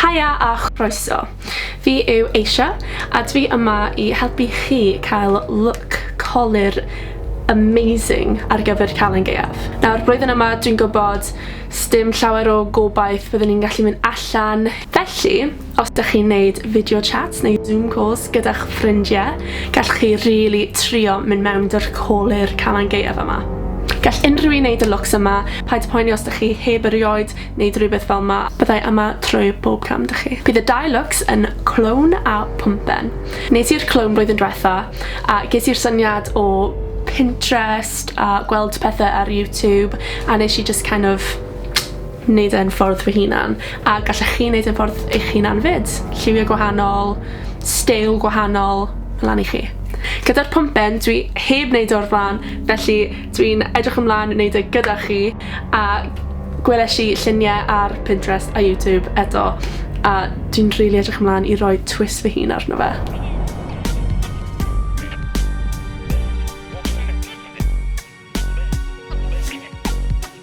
Haia a chroeso! Fi yw Asia a dwi yma i helpu chi cael look colur amazing ar gyfer Calan Gaeaf. Nawr, blwyddyn yma dwi'n gwybod sdim llawer o gobaith byddwn ni'n gallu mynd allan, felly os dych chi'n neud video chats neu zoom calls gyda'ch ffrindie, gallwch chi rili trio mynd mewn dy'r colur Calan Gaeaf yma. Gall unrhyw un neud y looks yma, paid poeni os dych chi heb erioed neud rywbeth fel 'ma, byddai yma trwy bob cam 'da chi. Bydd y dau lwcs yn clown a pwmpen. Nes i'r clown blwyddyn dwetha, a ges i'r syniad o Pinterest a gweld pethe ar YouTube, a nes i jyst kind of neud e'n ffordd fy hunan, a gallech chi neud e'n ffordd eich hunan 'fyd. Lliwie gwahanol, steil gwahanol, lan i chi. Gyda'r pwmpen, dwi heb neud e o'r bla'n, felly Dwi'n edrych ymlaen i neud e gyda chi a gwelesh i llunie ar Pinterest a YouTube eto a dwi'n rili edrych ymlan i roi twist fy hun arno fe.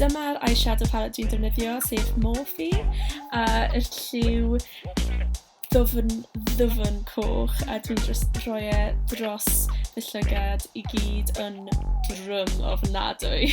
Dyma'r eyeshadow palette dwi'n defnyddio, sef Morphe, a yr lliw ddwfn, ddwfn coch, a dwi'n dros, rhoi e dros fy llygad i gyd yn drwm ofnadwy.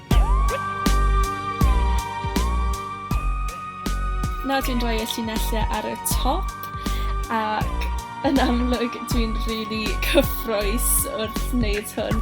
Nawr dwi'n rhoi y llinellau ar y top ac yn amlwg dwi'n rili really cyffroes wrth wneud hwn.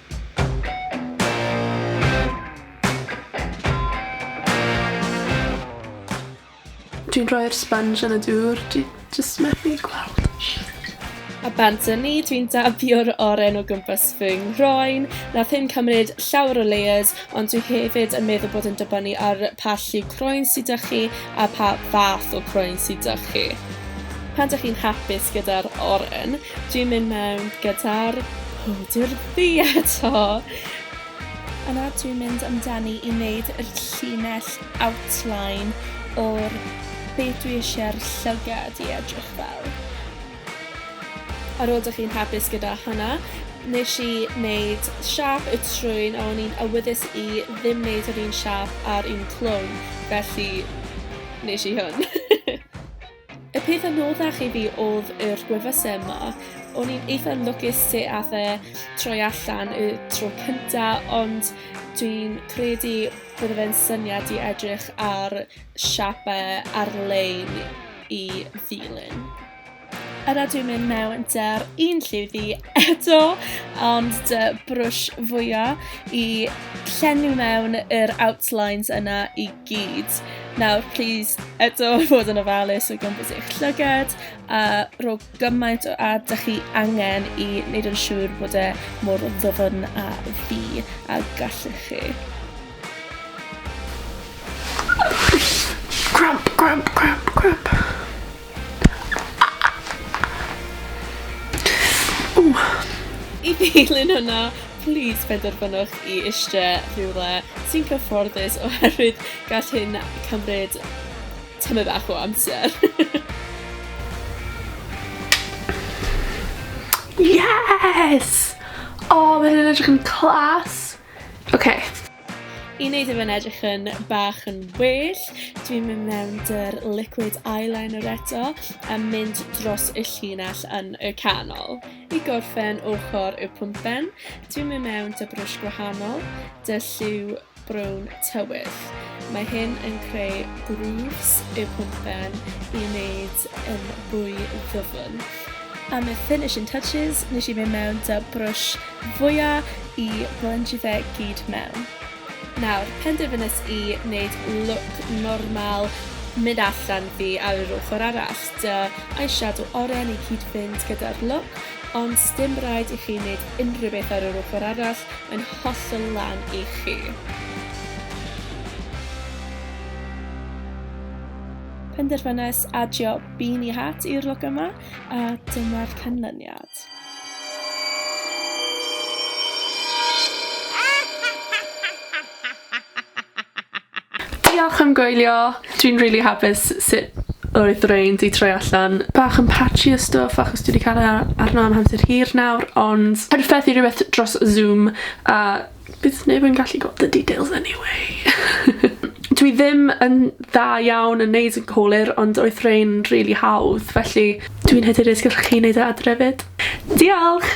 Dwi'n rhoi'r sponge yn y dŵr, dwi jyst methu gweld. A bant yn ni, dwi'n dabio'r oren o gwmpas fy nghroen. Nath hyn cymryd llawer o layers, ond dwi hefyd yn meddwl bod yn dibynnu ar pa llu croen sydd â chi a pa fath o croen sydd â chi. Pan dych chi'n hapus gyda'r oren, Dwi'n mynd mewn gyda'r powdr du eto! A nawr dwi'n mynd amdani i wneud yr llinell outline o'r be dwi eisiau'r llygad i edrych fel. Ar ôl dych chi'n hapus gyda hwnna, nes i wneud siâp y trwyn a o'n i'n awyddus i ddim wneud yr un siâp a'r un clwm, felly nes i hwn. Y peth anoddach i fi oedd yr gwefusau yma. O'n i'n eitha lwcus se ath e troi allan y tro cynta, ond dwi'n credu bydde fe'n syniad i edrych ar siapau ar-lein i ddilyn. Yna dwi'n mynd mewn dy'r un lliwddi eto, ond dy brwsh fwyaf i llenwi mewn yr outlines yna i gyd. Nawr, plis, eto fod yn ofalus o gwmpas eich llygad a rho gymaint o ad da chi angen i wneud yn siŵr bod e mor ddwfn a fi a gallwch chi. Cramp, cramp, cramp, cramp. I ddilyn hynna, plis penderfynwch i eistedd rhywle sy'n cyfforddus oherwydd gall hyn cymryd tamaid bach o amser. Yes! O, mae hyn yn edrych yn class! Ok. I wneud i fe'n edrych yn bach yn well, dwi'n mynd mewn dy'r liquid eyeliner eto a mynd dros y llinell yn y canol. I gorffen ochr y pwmpen, dwi'n mynd mewn dy brwsh gwahanol, dy lliw brown tywyll. Mae hyn yn creu grooves y pwmpen i wneud yn fwy ddyfn. Am y finishing touches, nes i mynd mewn dy brwsh fwya i blensio fe gyd mewn. Nawr, penderfynais i wneud look normal mynd allan fi ar yr ochr arall, dy eyeshadow oren i cyd-fynd gyda'r look, ond sdim rhaid i chi wneud unrhyw beth ar yr ochr arall, mae'n hollol lan i chi. Penderfynais adio beanie hat i'r look yma, a dyma'r canlyniad. Diolch am gwylio! Dwi'n rili hapus sut oedd rain 'di troi allan. Bach yn patchy a stwff achos dwi 'di ca'l e a- arno am amser hir nawr ond perffaith i rwbeth dros Zoom a Bydd neb yn gallu gweld y details anyway. Dwi ddim yn dda iawn yn neud yn cywir ond oedd rhein rili hawdd felly dwi'n hyderus gallwch chi neud e adre 'fyd. Diolch!